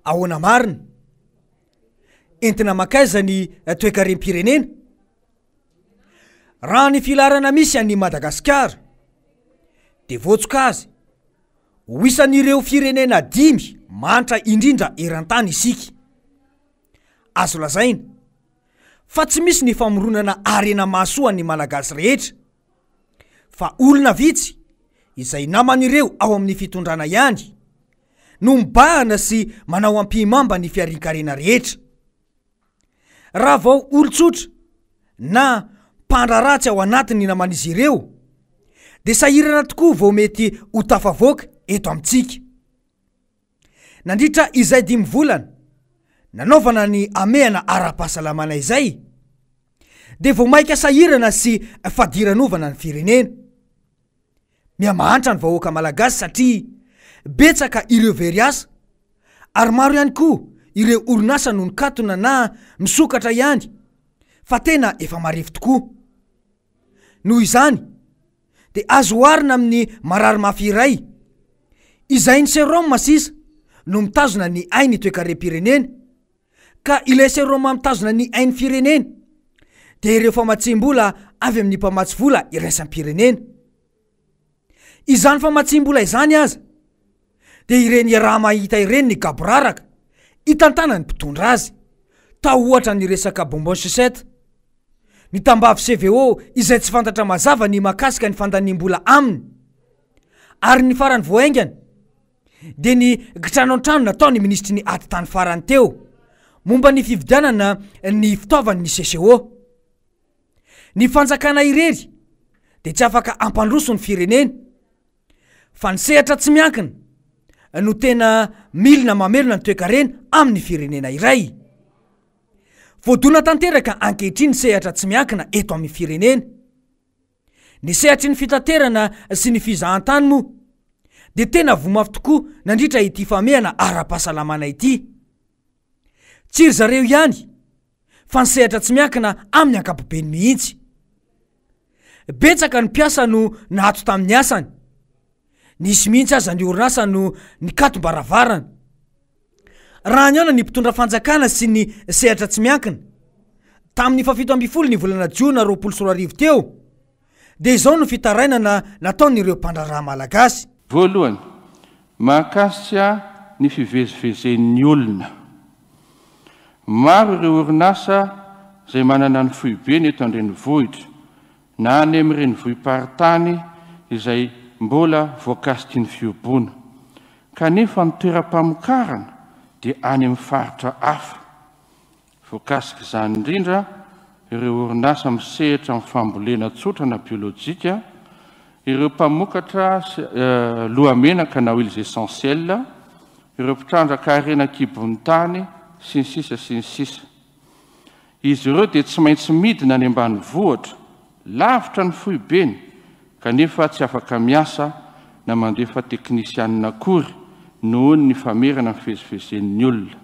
ahoana marina entina makaiza ny eh, toekarem-pirenena raha ny filarana misy an'ny madagasikara de voatsoka azy ho isan'ireo firenena dimy mantra indrindra eran-tany isika azo lazaina fa tsy misy ny famoronana harena mahasoa ny Malagasy rehetra fa olona vitsy izay naman'ireo ao amin'ny fitondrana ihany no mibahana sy manao ampihimamba ny fiarinkarena rehetra. Raha vao olon-tsotra na mpandraharaha tsy ao anatin'ny naman'izy ireo dia sahirana tokoa vao mety ho tafavoaka eto amintsika. Nandritra izay dimy volana nanaovana ny hamehana ara-pahasalamana izay dia vao mainka sahirana sy fadiranovana ny firenena. Mihamahantra ny vahoaka malagasy satria betsaka ireo very asa ary maro ihany koa ireo orinasa no nikatona na misokatra ihany fa tena efa marefo tokoa. Noho izany, dia azo oharina amin'ny marary mafy iray. Izay ny seraoma sisa no mitazona ny ain'ny toekarem-pirenena, ka ilay seraoma mitazona ny ain'ny firenena dia ireo famatsiam-bola avy amin'ny mpamatsy vola iraisam-pirenena. Izany famatsiam-bola izany aza, dia ireny iaraha-mahita ireny ny gaboraraka itantanan'ny mpitondra azy, tao ohatra ny resaka bonbon sucette. Ny tambavy CVO izay tsy fantatra mazava ny mahakasika ny fandaniam-bola aminy. Ary ny farany vao haingana dia ny kitrano an-trano nataon'ny minisitry ny Atitany farany teo momba ny fividianana ny fitaovan'ny CCO. Ny fanjakana irery dia tsy afaka hampandroso ny firenena. Fa ny sehatra tsy miankina no tena milina mamelona ny toekarena amin'ny firenena iray. Voadona tanteraka ankehitriny ny sehatra tsy miankina eto amin'ny firenena. Ny sehatry ny fitaterana sy ny fizahantany moa dia tena voa mafy tokoa nandritra ity famehana ara-pahasalamana ity. Tsy ry zareo ihany fa ny sehatra tsy miankina amin'ny ankapobeny mihitsy. Betsaka ny mpiasa no naato tamin'ny asany. Nisy mihitsy aza ny orinasa no nikatom-baravarana. Raha nihaona ny mpitondra fanjakana sy ny sehatra tsy miankina, tamin'ny fahafito ambin'ny folo ny volana jiona roapolo sy roa arivo teo, Dia izao no fitarainana nataon'ireo mpandraharaha malagasy. Voalohany, mahakasika ny fivezivezen'ny olona. Maro ireo orinasa izay manana ny foibeny eto an-drenivohitra na any amin'ny renivohi-paritany izay mbola voakasiky ny fihoboana, kanefa ny toeram-pamokarana dia any amin'ny faritra hafa. Voakasik'izany indrindra ireo orinasa misehatra amin'ny fambolena tsotra na biolojika, ireo mpamokatra lohamenaka na huiles essentielles, ireo mpitrandraka harena an-kibon'ny tany, sy ny sisa sy ny sisa. Izy ireo dia tsy maintsy midina any ambanivohitra, lavitra ny foibeny, kanefa tsy afaka miasa na mandefa teknisianina akory noho ny famerana ny fivezivezen'ny olona.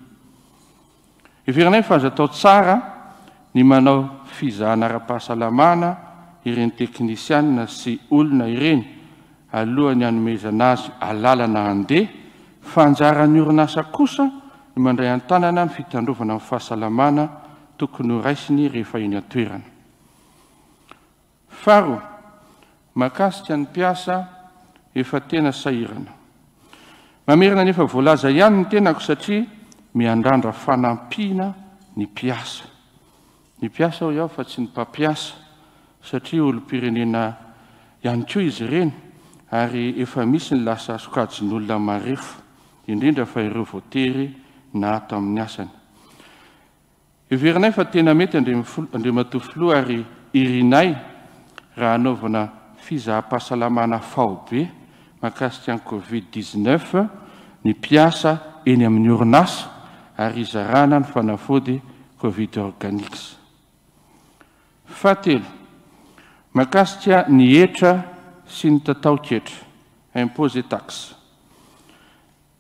Heveranay fa aza atao tsara ny manao fizahana ara-pahasalamana ireny teknisianina sy olona ireny alohan'ny hanomezana azy alalana handeha fa anjaran'ny orinasa kosa ny mandray an-tanana ny fitandrovana ny fahasalamana tokony horaisiny rehefa eny an-toerana. Faharoa, mahakasika ny mpiasa efa tena sahirana. Mamerina ny efa voalaza ihany ny tenako satria miandrandra fanampiana ny mpiasa. Ny mpiasa hoy aho fa tsy ny mpampiasa satria olom-pirenena ihany koa izy ireny ary efa misy ny lasa sokajin'olona marefo, indrindra fa ireo voatery na tamin'ny asany. Heverinay fa tena mety Andriamatoa Filoha ary irinay raha hanaovana fizaham-pahasalamana faobe mahakasika ny Covid dix-neuf ny mpiasa eny amin'ny orinasa ary hizarana ny fanafody Covid Organics. Fahatelo, mahakasika ny hetra sy ny tataon-ketra, impôts et taxes.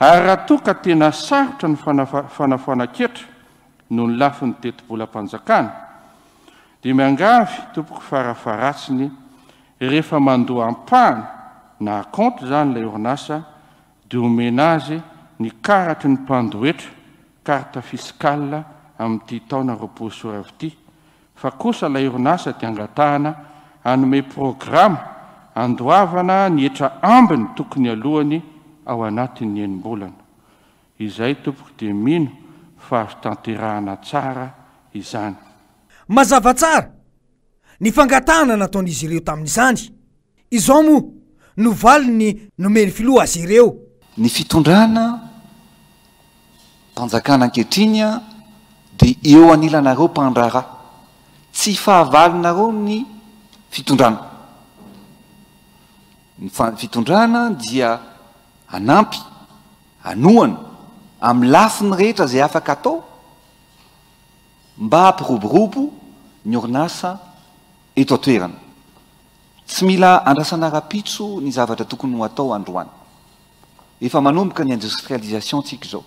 Ary raha toa ka tena sarotra ny fanafanan-ketra noho ny lafiny tetibolam-panjakana, dia miangavy tompoko farafaharatsiny rehefa mandoa ampahany na acompte izany ilay orinasa dia omena azy ny karatry ny mpandohetra, carte fiscale, amin'ity taona roapolo sy roa arivo ity fa kosa ilay orinasa dia angatahana hanome programa handoavana ny hetra ambiny tokony alohany ao anatin'ny enim-bolana. Izay tompoko dia mino fa azo tanterahana tsara izany. Mazava tsara ny fangatahana nataon'izy ireo tamin'izany. Izao moa no valiny nomen'ny filoha azy ireo. Ny fitondrana mpanjakana ankehitriny dia eo anilanareo mpandraharaha. Tsy fahavalonareo ny fitondrana. Ny fitondrana dia hanampy, hanohana amin'ny lafiny rehetra izay afaka atao mba hampiroborobo ny orinasa eto an-toerana. Tsy mila andrasana rapitso ny zavatra tokony ho atao androany. Efa manomboka ny industrialisation tsika izao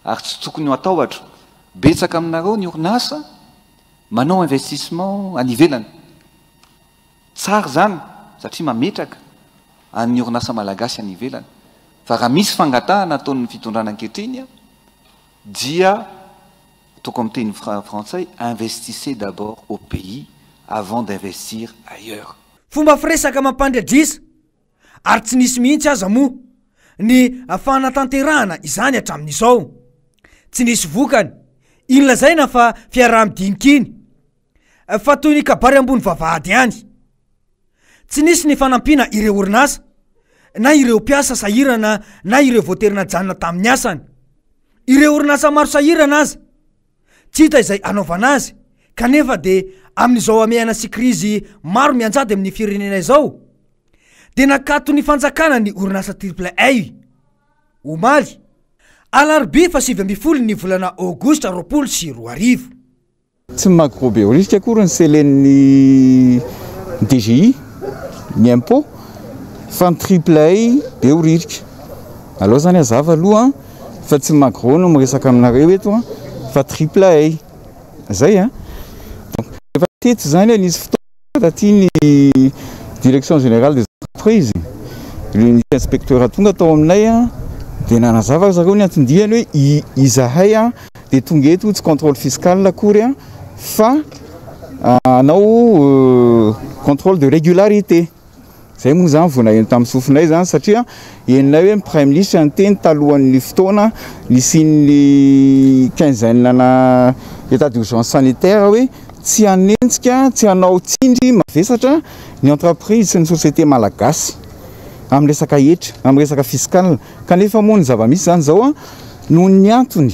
ary tsy tokony ho atahotra, betsaka aminareo ny orinasa manao investissement any ivelany. Tsara izany satria mametraka an'ny orinasa malagasy any ivelany fa raha misy fangatahana ataon'ny fitondrana ankehitriny dia Ataoko amin'ny teny frantsay, investissez d'abord au pays avant d'investir ailleurs. Fomba firesaka mampandriadrisa, ary tsy nisy mihitsy aza moa ny fanatanterahana izany hatramin'izao. Tsy nisy vokany. Iny lazaina fa fiaraha-midiniky iny. Fa toy ny kabary ambony vavahady ihany. Tsy nisy ny fanampiana ireo orinasa, na ireo mpiasa sahirana na ireo voatery najanona tamin'ny asany. Ireo orinasa maro sahirana aza, tsy hita izay hanaovana azy, kanefa dia amin'izao hamehana sy krizy maro mianjady amin'ny firenena izao, dia nakaton'ny fanjakana ny orinasa Triple A, omaly, alarobia fahasivy ambin'ny folo ny volana aogositra roapolo sy roa arivo. Tsy magro be risque akory ny selen'ny DGI, ny impôt, fa ny triplay be ho ririka. Aleo izany hazava aloha fa tsy magro no miresaka aminareo eto fa triplay. Zay an! Donc efa teto izany e, nisy fotoana. Taty ny direction générale des entreprises, le nisy inspecteur tonga tao aminay dia nanazava ry zareo ny anton-diany hoe izahay dia tonga eto tsy contrôle fiscal akory fa hanao contrôle de régularité. Izay moa izany vao naheno tamin'ny sofinay izany satria henonay hoe ny praiminisitra niteny talohan'ny fotoana nisian'ny quinzaine ana état d'urgence sanitaire hoe tsy hanenjika, tsy hanao tsindry mavesatra ny entreprise sy ny société malagasy amin'ny resaka hetra, amin'ny resaka fiscal. Kanefa moa ny zava-misy izany izao noho ny antony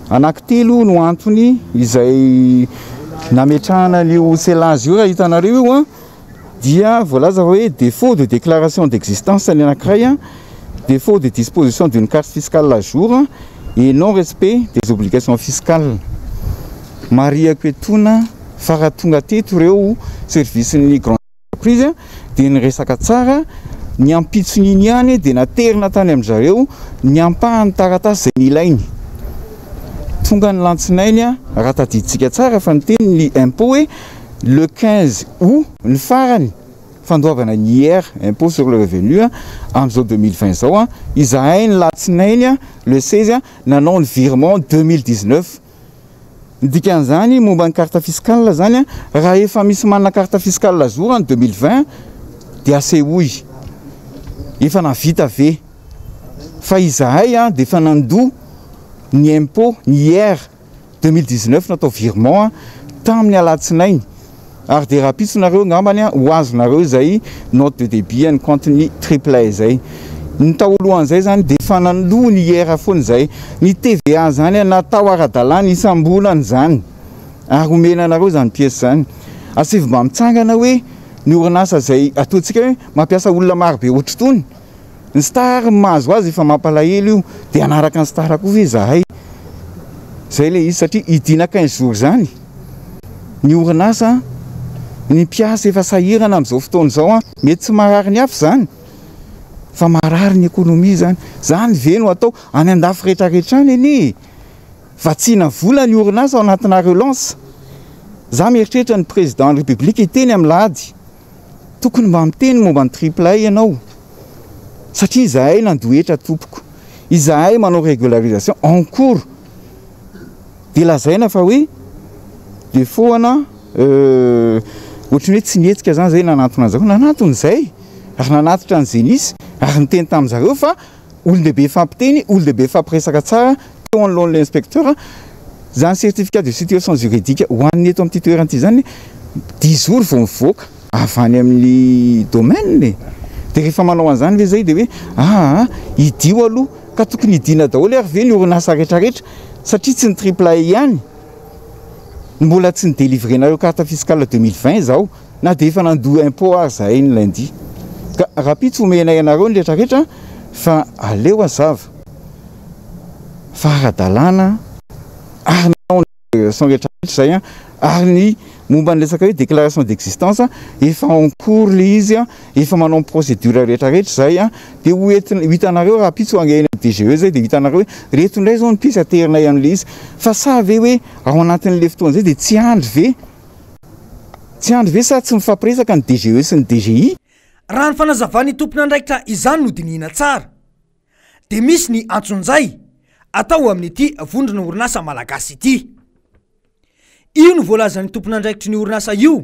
anankitelo no antony izay nametrahana an'io CELAS io raha hitanareo io. dia voalaza fa hoe défaut de déclaration d'existence ny anankiray, défaut de disposition d'une carte fiscale à jour et non respect des obligations fiscales. Marihako etoana fa raha tonga teto ireo services ny grande entreprise dia niresaka tsara, ny ampitson'iny ihany dia naterina tany amin-dry zareo ny ampahan'ny taratasy izay nilainy. Tonga ny lantsinainy raha tadidintsika tsara fa niteny ny impôt hoe. le 15 aout ny farany fandoavana ny IR, impôt sur le revenu, amin'izao 2020 izao. Izahay ny latsinainy le 16 nanao ny virement 2019. Ny dikan'izany momba ny carte fiscale izany raha efa misy manana carte fiscale à jour an'ny 2020 dia asehoy efa navita ve fa izahay dia efa nandoa ny impôt, ny IR. Deux mille dix neuf natao virement tamin'ny alatsinainy ary dia rahampitso nareo angambany ho azonareo izay note de debit an'ny compte-ny Triplay izay. Ny taolohan'izay zany dia efa nandoa ny IR foana izay. Ny TVA izany natao ara-dalàna isam-bolana izany ary omena anareo izany pièce izany. Asaivo mba mitsangana hoe ny orinasa izay ataontsika hoe mampiasa olona marobe ohatr'itony. Ny star ny mahazo azy efa mampalahelo io de hanaraka ny star koa ve zahay? Zay le izy satria hidiana quinze jours zany ny orinasa an! Ny mpiasa efa sahirana amin'izao fotoana izao an! Mety tsy marary ny hafa zany fa marary ny economie zany! Zany ve no atao? Any andafy rehetra rehetra any anie e! Vatsiana vola ny orinasa ao anatinà relance! Za mieritreritra ny président ny république hiteny amin'lahady! Tokony mba miteny momba ny triple A ianao satria izahay nandoa hetra tompoko, izahay manao régularisation en cours dia lazaina fa hoe défaut ana ohatry ny hoe tsy nihetsika zany zay nanantona an'zareo, nanantona izay ary nanatitra ny Zenith ary niteny tamin'zareo fa Olon-dehibe hifampiteny, olon-dehibe hifampiresaka tsara teo anoloan'ilay inspecteur. Izany certificat de situation juridique ho an'ny eto amin'ity toerana ity izany, dix jours vao mivoaka avy any amin'ny domaine e! Dia rehefa manao an'izany ve izay dia hoe aa hidio aloha? Ka tokony hidiana daholo ary ve ny orinasa retraretra satria tsy ny Triple A ihany no mbola tsy ni-delivrer-nareo carte fiscale deux mille vingt izao? Na dia efa nandoa impôt ary zahay ny lundi. Ka rahampitso omenay anareo ny retraretra fa aleo hazava fa ara-dalàna ary ny atao ny déclaration retraretra izay ary ny momba ny resaka hoe déclaration d'existence efa en cours ilay izy efa manao ny procédure retraretra izay dia ho entina ho hitanareo rahampitso any amin'ny DGE izay dia ho hitanareo hoe reto indray izao ny piece aterinay amin'ilay izy fa sa ve hoe ao anatin'ilay fotoana izay dia tsy andry ve Tsy andry ve sa tsy mifampiresaka ny DGE sy ny DGI? Raha ny fanazavan'ny tompon'andraikitra izany no dinihina tsara dia misy ny antsonjay atao amin'ity vondrona orinasa malagasy ity. Io no voalazan'ny tompon'andraikitry ny orinasa io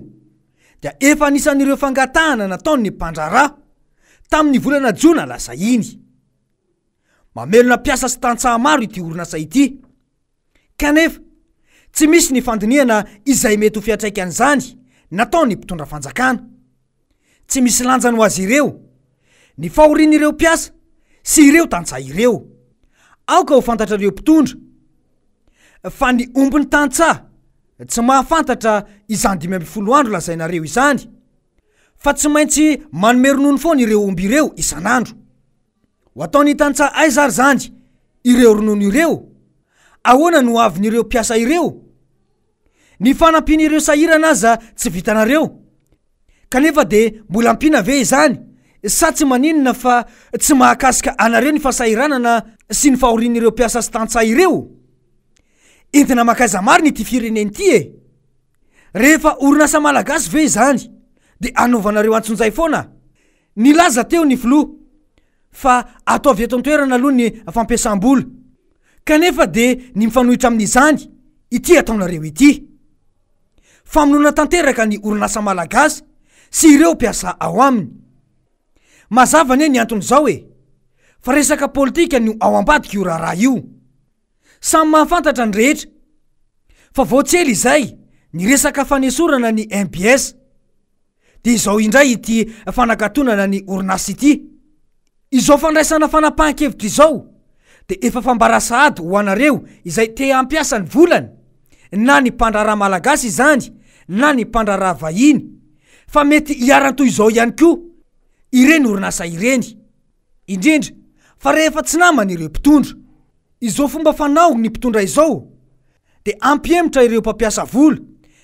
dia efa anisan'ireo fangatahana nataon'ny mpandraharaha tamin'ny volana jona lasa iny. Mamelona mpiasa sy tantsaha maro ity orinasa ity. Kanefa, tsy misy ny fandinihana izay mety ho fiantraikan'izany nataon'ny mpitondra fanjakana. Tsy misy lanjany ho azy ireo ny fahorian'ireo mpiasa sy ireo tantsaha ireo. Aoka ho fantatrareo mpitondra fa ny ombin'ny tantsaha tsy mahafantatra izany dimy ambin'ny folo andro lazainareo izany fa tsy maintsy manome ronono foana ireo omby ireo isan'andro. Ho ataon'ny tantsaha aiza ary izany ireo ronono ireo? Ahoana no hoavin'ireo mpiasa ireo? Ny fanampian'ireo sahirana aza tsy vitanareo, kanefa dia mbola ampiana ve izany? Sa tsy maninona fa tsy mahakasika anareo ny fahasahiranana sy ny fahorian'ireo mpiasa sy tantsaha ireo? Entina mankaiza marina ity firenena ity e? Rehefa orinasa malagasy ve izany dia anaovanareo antsonjay foana? Nilaza teo ny filoha fa ataovy eto an-toerana aloha ny fampiasam-bola, kanefa dia ny mifanohitra amin'izany ity ataonareo ity. Famonoana tanteraka ny orinasa malagasy sy ireo mpiasa ao aminy. Mazava anie ny anton'izao e! Fa resaka politika no ao ambadik'io raharaha io. Samy mahafantatra ny rehetra fa vao tsy ela izay ny resaka fanesorana ny mbs dia izao indray ity fanakatonana ny orinasa ity. Izao fandraisana fanapahan-kevitra izao dia efa fambara sahady ho anareo izay te hampiasa ny volany, na ny mpandraharaha malagasy izany na ny mpandraharaha vahiny, fa mety hiharan-toy izao ihany koa ireny orinasa ireny. indrindra fa rehefa tsy namany ireo mpitondra. Izao fomba fanao ny mpitondra izao dia hampihemotra ireo mpampiasa vola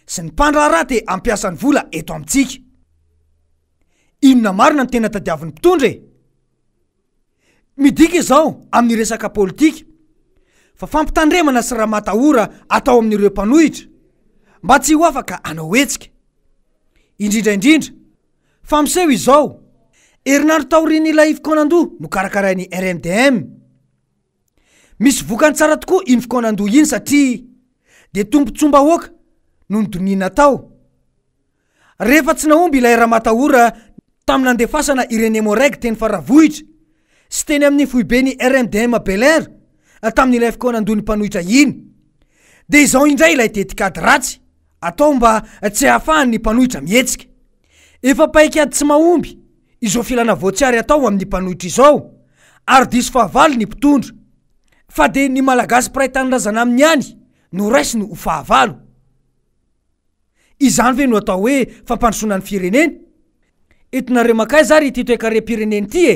sy ny mpandraharaha te hampiasa ny vola eto amintsika. Inona marina no tena tadiavin'ny mpitondra e? Midika izao amin'ny resaka politika fa fampitandremana sy ramatahora atao amin'ireo mpanohitra mba tsy ho afaka hanao hetsika. Indrindra indrindra Fa miseho izao, herinandro taorian'ilay fikaonandoha nokarakarain'ny RMDM. Misy vokany tsara tokoa iny fikaonandoha iny satria dia tombontsoam-bahoaka no nodonihina tao. Rehefa tsy nahomby ilay Ramatahora tamin'ny nandefasana ireny Emmo-Reg teny Faravohitra sy teny amin'ny foiben'ny RMDM Belair tamin'ilay fikaonandohan'ny mpanohitra iny dia izao indray ilay tetikady ratsy Atao mba tsy hahafahan'ny mpanohitra mihetsika. Efa paik'ady tsy mahomby izao filana voatsiary atao amin'ny mpanohitra izao ary diso fahavalo ny mpitondra. Fa dia ny Malagasy mpiray tanindrazana aminy ihany no raisiny ho fahavalo. Izany ve no atao hoe fampandrosoana ny firenena? Eto Nareo makaiza ary ity toekarem-pirenena ity e?